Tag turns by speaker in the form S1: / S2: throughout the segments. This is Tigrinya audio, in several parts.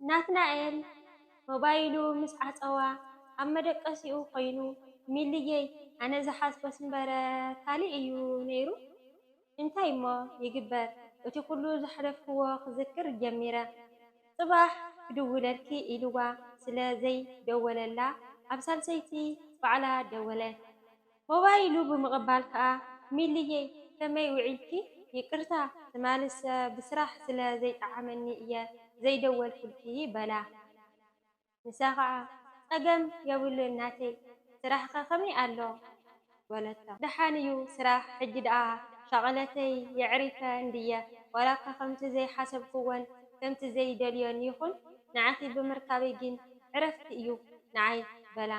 S1: ናትናኤል ሞባይሉ ምስ ዓጸዋ ኣብ መደቀሲኡ ኮይኑ ሚሊየይ ኣነ ዝሓስቦስ እምበር ካልእ እዩ ነይሩ እንታይ እሞ ይግበር እቲ ኩሉ ዘሕለፍክዎ ክዝክር ጀሚረ ጽባሕ ክድውለልኪ ኢልዋ ስለ ዘይደወለላ ኣብ ሳልሰይቲ ባዕላ ደወለት ሆባይ ኢሉ ብምቕባል ከኣ፣ ሚሊየይ ከመይ ውዒልኪ? ይቅርታ ትማልሰ ብስራሕ ስለ ዘይጠዓመኒ እየ ዘይደወልኩልኪ በላ። ንሳ ከኣ ጸገም የብሉን ናተይ፣ ስራሕኸ ከመይ ኣሎ? በለቶ። ደሓን እዩ ስራሕ፣ ሕጂ ደኣ ሻቕለተይ የዕሪፈ እንድየ፣ ዋላኳ ከምቲ ዘይሓሰብኩዎን ከምቲ ዘይደልዮን ይኹን፣ ንዓኺ ብምርካበይ ግን ዕረፍቲ እዩ ንዓይ በላ።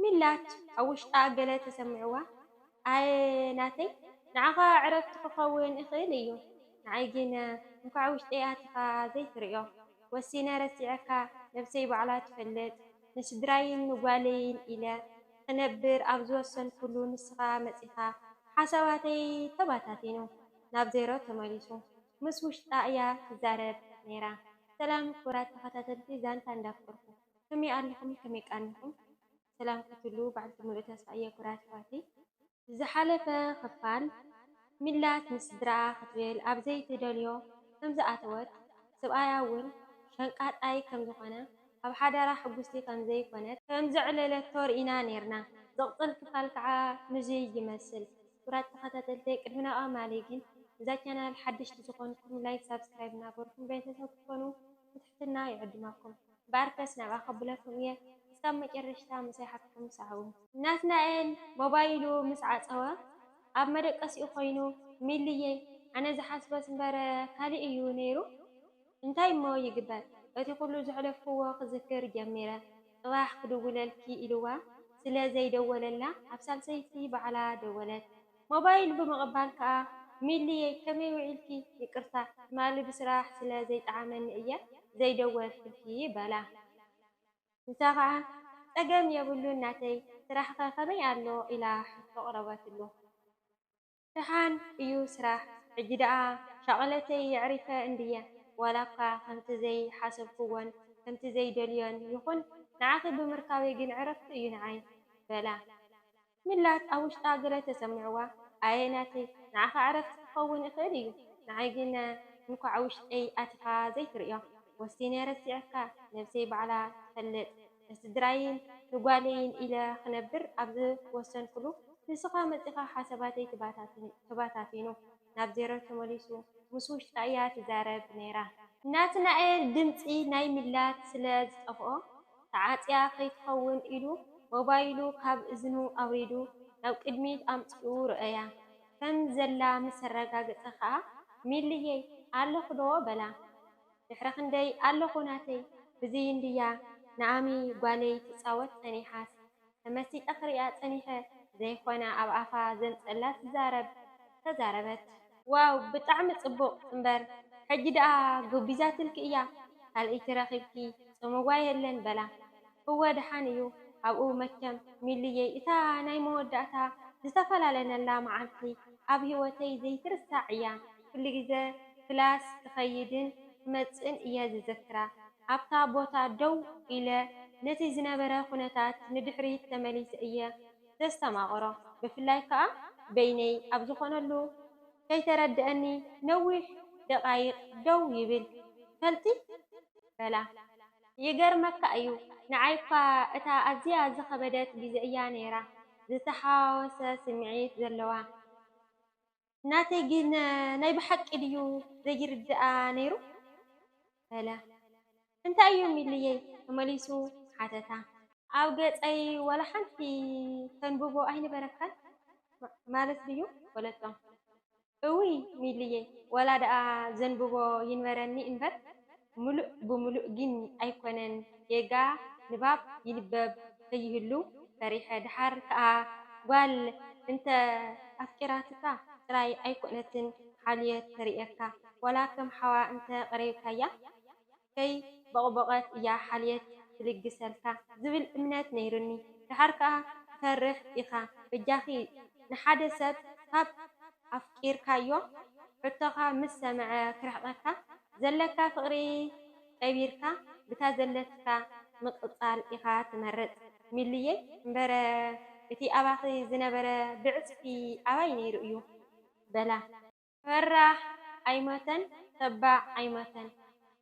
S1: ሚላት ኣብ ውሽጣ ገለ ተሰሚዕዋ ኣየ ናተይ ንዓኻ ዕረፍቲ ክኸውን እኽእል እዩ ንዓይ ግን እንኳዕ ውሽጠይ ኣቲኻ ዘይትርእዮ ወሲነ ረሲዐካ ነብሰይ ባዕላ ትፈልጥ ንስድራይን ንጓለይን ኢለ ክነብር ኣብ ዝወሰንኩሉ ንስኻ መጺኻ ሓሳባተይ ተባታቲኑ ናብ ዜሮ ተመሊሱ ምስ ውሽጣ እያ ትዛረብ ነይራ ሰላም ክቡራት ተኸታተልቲ ዛንታ እንዳፍቅርኩ ከመይ ኣለኹም ከመይ ቃኒኹም ሰላም ክትህልዉ በዓልቲ ሙሉእ ተስፋ እየ ኩራት ኣሕዋተይ። ዝሓለፈ ክፋል ሚላት ምስ ስድርኣ ክትብል ኣብ ዘይትደልዮ ከም ዝኣተወት ስብኣያ ውን ሸንቃጣይ ከም ዝኾነ ኣብ ሓዳራ ሕጉስቲ ከም ዘይኮነት ከም ዘዕለለቶ ርኢና ኔርና ዝቕጽል ክፋል ከኣ ንዙይ ይመስል ኩቡራት ተኸታተልተይ ቅድሚ ናብኣ ማሊ ግን እዛ ቻናል ሓደሽቲ ዝኾንኩም ላይክ ሳብስክራይብ እናገርኩም ቤተሰብ ክትኮኑ ብትሕትና ይዕድመኩም። ባርከስ ናብኣ ከብለኩም እየ እስካብ መጨረሽታ ምሳይ ሓትኩም ሰዓቡ። ናትናኤል ሞባይሉ ምስ ዓጸወ ኣብ መደቀሲኡ ኮይኑ ሚሊየይ ኣነ ዝሓስቦስ እምበር ካሊእ እዩ ነይሩ እንታይ እሞ ይግበር እቲ ኩሉ ዘሕለፍክዎ ክዝክር ጀሚረ ጽባሕ ክድውለልኪ ኢልዋ ስለ ዘይደወለላ ኣብ ሳልሰይቲ ባዕላ ደወለት ሞባይል ብምቕባል ከኣ ሚሊየይ ከመይ ውዒልኪ ይቅርታ ትማሊ ብስራሕ ስለ ዘይጠዓመኒ እየ ዘይደወልክልኪ በላ። ንሳ ከኣ ጸገም የብሉን ናተይ ስራሕ'ከ ከመይ ኣሎ ኢላ ሕቶ ኣቕረበትሉ። ደሓን እዩ ስራሕ ሕጂ ደኣ ሻቕለተይ የዕሪፈ እንድየ ዋላ'ኳ ከምቲ ዘይሓሰብክዎን ከምቲ ዘይደልዮን ይኹን ንዓኺ ብምርካበይ ግን ዕረፍቲ እዩ ንዓይ በላ። ምላት ኣብ ውሽጣ ገለ ተሰሚዕዋ ኣየ ናተይ ንዓኻ ዕረፍቲ ክኸውን ይኽእል እዩ ንዓይ ግን እንኳዕ ውሽጠይ ኣቲኻ ዘይትርእዮ ወሲነ ረሲዐካ ነብሰይ ባዕላ ትፈልጥ ንስድራይን ንጓለይን ኢለ ክነብር ኣብ ዝወሰንኩሉ ንስኻ መጺኻ ሓሳባተይ ተባታቲኑ ናብ ዜሮ ተመሊሱ ምስ ውሽጣ እያ ትዛረብ ነይራ። ናትናኤል ድምጺ ናይ ሚላት ስለ ዝጠፍኦ ተዓጽያ ከይትኸውን ኢሉ ሞባይሉ ካብ እዝኑ ኣውሪዱ ናብ ቅድሚት ኣምጺኡ ርኣያ። ከም ዘላ ምስ ኣረጋገጸ ከኣ ሚልየይ ኣለኹ'ዶ በላ። ድሕሪ ክንደይ ኣለኹ ናተይ ብዝይ እንድያ ንኣሚ ጓለይ ትጻወት ጸኒሓስ ተመሲጠ ክሪኣ ጸኒሐ ዘይኮነ ኣብ ኣፋ ዘንጸላ ትዛረብ ተዛረበት። ዋው ብጣዕሚ ጽቡቅ እምበር ሕጂ ደኣ ጎቢዛትልኪ እያ ካልእይቲ ረኪብኪ ጾምዋ የለን በላ እወ ደሓን እዩ ኣብኡ መቸም ሚሉየይ እታ ናይ መወዳእታ ዝተፈላለነላ መዓልቲ ኣብ ሂወተይ ዘይትርሳዕ እያ ኩልግዘ ክላስ ክከይድን ክመጽእን እየ ዝዝክራ። ኣብታ ቦታ ደው ኢለ ነቲ ዝነበረ ዅነታት ንድሕሪት ተመሊሰ እየ ዘስተማቕሮ፣ ብፍላይ ከኣ በይነይ ኣብ ዝዀነሉ። ከይተረድኣኒ ነዊሕ ደቓይቕ ደው ይብል። ትፈልጢ? በላ። ይገርመካ እዩ፣ ንዓይ እኳ እታ ኣዝያ ዝኸበደት ግዜ እያ ነይራ፣ ዝተሓዋወሰ ስምዒት ዘለዋ። ናተይ ግን ናይ ብሓቂ ድዩ ዘይርድኣ ነይሩ በለ። እንታይ እዩ ሚሊየይ? ተመሊሱ ሓተታ። ኣብ ገጸይ ዋላ ሓንቲ ተንብቦ ኣይነበረካን ማለት ድዩ? በለቶ። እውይ ሚሊየይ ዋላ ደኣ ዘንብቦ ይንበረኒ እንበር ምሉእ ብምሉእ ግን ኣይኮነን ጌጋ ንባብ ይንበብ ከይህሉ ፈሪሐ ደሓር ከኣ ጋል እንተ ኣፍቂራትካ ጥራይ ኣይኮነትን ሓልዮት ተርእየካ ዋላ ከም ሓዋ እንተ ቀሪብካያ ከይ ቦቅቦቀት እያ ሓልየት ትልግሰልካ ዝብል እምነት ነይሩኒ ደሓር ከኣ ትፈርሕ ኢካ በጃኪ ንሓደ ሰብ ካብ ኣፍቂርካዮ ሕቶካ ምስ ሰመዐ ክርሕቀካ ዘለካ ፍቅሪ ቀቢርካ ብታ ዘለትካ ምቅጻል ኢካ ትመርጽ ሚሉየ እምበረ እቲ ኣባኪ ዝነበረ ብዕጽፊ ኣባይ ነይሩ እዩ በላ። ፈራሕ ኣይሞተን ተባዕ ኣይሞተን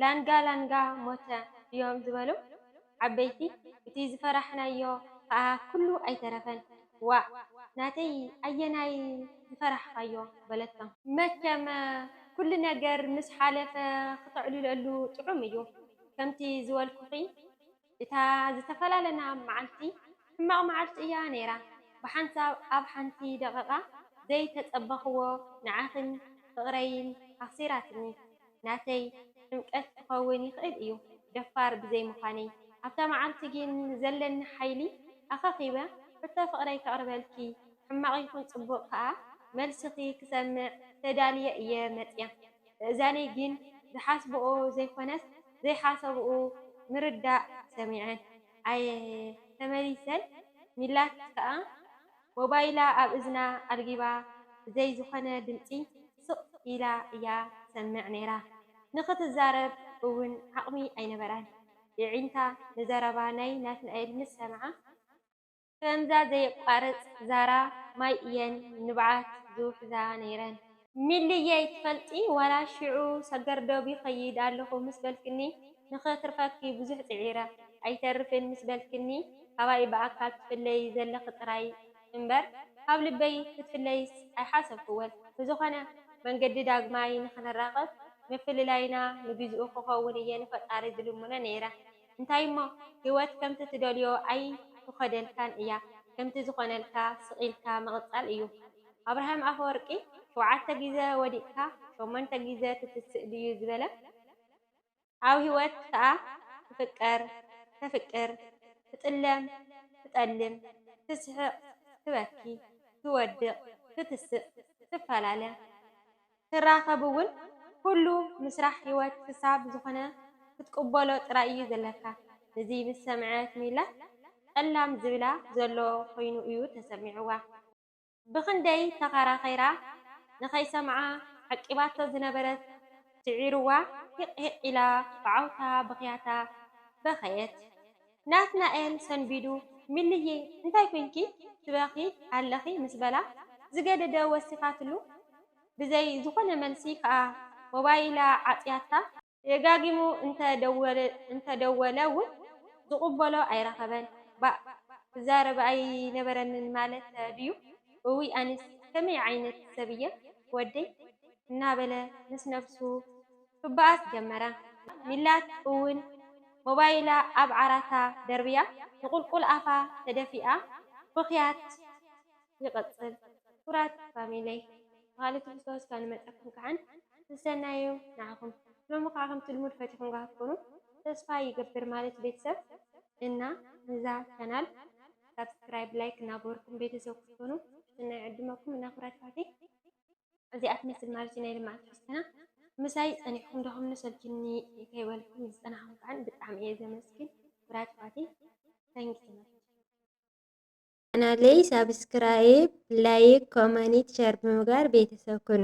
S1: ላንጋ ላንጋ ሞተ ድዮም ዝበሉ። ዓበይቲ እቲ ዝፈራሕናዮ ከኣ ኩሉ ኣይተረፈን። ዋእ ናተይ ኣየናይ ዝፈራሕኻዮ? በለቶም። መቸም ኩሉ ነገር ምስ ሓለፈ ክተዕልለሉ ጥዑም እዩ። ከምቲ ዝበልኩኺ እታ ዝተፈላለና መዓልቲ ሕማቕ መዓልቲ እያ ነይራ። ብሓንሳብ ኣብ ሓንቲ ደቒቓ ዘይተጸበኹዎ ንዓኺን ፍቕረይን ኣኽሲራትኒ። ናተይ ጥምቀት ክኸውን ይኽእል እዩ ደፋር ብዘይ ምዃነይ ኣብታ መዓልቲ ግን ዘለኒ ሓይሊ ኣኸኺበ ሕቶ ፍቕረይ ከቕርበልኪ ሕማቕ ይኹን ጽቡቕ ከኣ መልስኺ ክሰምዕ ተዳልየ እየ መጽያ ምእዛነይ ግን ዝሓስብኦ ዘይኮነስ ዘይሓሰብኡ ምርዳእ ሰሚዐን ኣየ ተመሊሰን ሚላት ከኣ ሞባይላ ኣብ እዝና ኣልጊባ ብዘይ ዝኾነ ድምጺ ስቕ ኢላ እያ ትሰምዕ ነይራ። ንኽትዛረብ እውን ዓቕሚ ኣይነበራን። የዒንታ ንዘረባ ናይ ናትናኤል ምስ ሰምዓ፣ ከምዛ ዘየቋርጽ ዛራ ማይ እየን ንብዓት ዝውሕዛ ነይረን። ሚሊየይ ትፈልጢ ዋላ ሽዑ ሰገር ዶብ ይኸይድ ኣለኹ ምስ በልክኒ ንኸትርፈኪ ብዙሕ ጽዒረ ኣይተርፍን ምስ በልክኒ ካባይ ብኣካል ትፍለዪ ዘለኺ ጥራይ እምበር ካብ ልበይ ክትፍለይስ ኣይሓሰብክዎን ብዝኾነ መንገዲ ዳግማይ ንኽንራኸብ ምፍልላይና ንግዚኡ ክኸውን እየ ንፈጣሪ ዝልምኖ ነይረ። እንታይሞ ሂወት ከምቲ ትደልዮ ኣይትኾደልካን እያ ከምቲ ዝኾነልካ ስቅ ኢልካ ምቅጻል እዩ ኣብርሃም ኣፈወርቂ ሸውዓተ ግዘ ወዲቅካ ሸሞንተ ግዘ ትትስእ ድዩ ዝበለ ኣብ ሂወት ከኣ ትፍቀር ተፍቅር ትጥለም ትጠልም ትስሕቅ ትበኪ ትወድቅ ትትስእ ትፋላለ ክትራከብ ውን ኩሉ ምስራሕ ሂወት ክሳብ ዝኮነ ክትቅበሎ ጥራይ እዩ ዘለካ እዚ ምስ ሰምዐት ሚላ ጠላም ዝብላ ዘሎ ኮይኑ እዩ ተሰሚዕዋ ብክንደይ ተካራኪራ ንከይሰምዓ ዓቂባቶ ዝነበረት ስዒርዋ ሂቅ ሂቅ ኢላ ብዓውታ ብክያታ በከየት። ናትናኤል ሰንቢዱ፣ ሚሊ'የ እንታይ ኮይንኪ ትበኽዪ ኣለኺ ምስ በላ፣ ዝገደደ ወሲኻትሉ፣ ብዘይ ዝኾነ መልሲ ከኣ ሞባይላ ዓጽያታ። ደጋጊሙ እንተ ደወለ ውን ዝቕበሎ ኣይረኸበን። ባእ ክዛረብ ኣይነበረንን ማለት ድዩ? እውይ ኣነስ ከመይ ዓይነት ሰብ'የ ወደይ? እናበለ ምስ ነብሱ ክበኣስ ጀመረ። ሚላት እውን ሞባይላ ኣብ ዓራታ ደርብያ ንቑልቁል ኣፋ ተደፊኣ ብኽያት ይቕጽል። ክቡራት ፋሚለይ ብኻልእ ትሕዝቶ እስከ ንመጸኩም ክዓን ሰሰናዩ ንዓኹም ሎሚ ክዓ ከምቲ ልሙድ ፈቲኹም ክትኮኑ ተስፋ ይገብር ማለት ቤተሰብ እና ንዛ ቻናል ሳብስክራይብ ላይክ እናገበርኩም ቤተሰብ ክትኮኑ ብትሕትና ይዕድመኩም እና ክብራት ኣሕዋተይ። እዚኣ ትመስል ማለት'ዩ ናይ ልምዓት ትሕዝቶና። ምሳይ ጸኒሕኩም ደኺሙኒ ሰልችዩኒ ከይበልኩም ዝጸናሕኩም ከኣ ብጣዕሚ እየ ዘመስግን ክቡራት ኣሕዋተይ Thank you so much። ቻናለይ ሳብስክራይብ ላይክ ኮመኒት ሸር ብምግባር ቤተሰብ ኩኑ።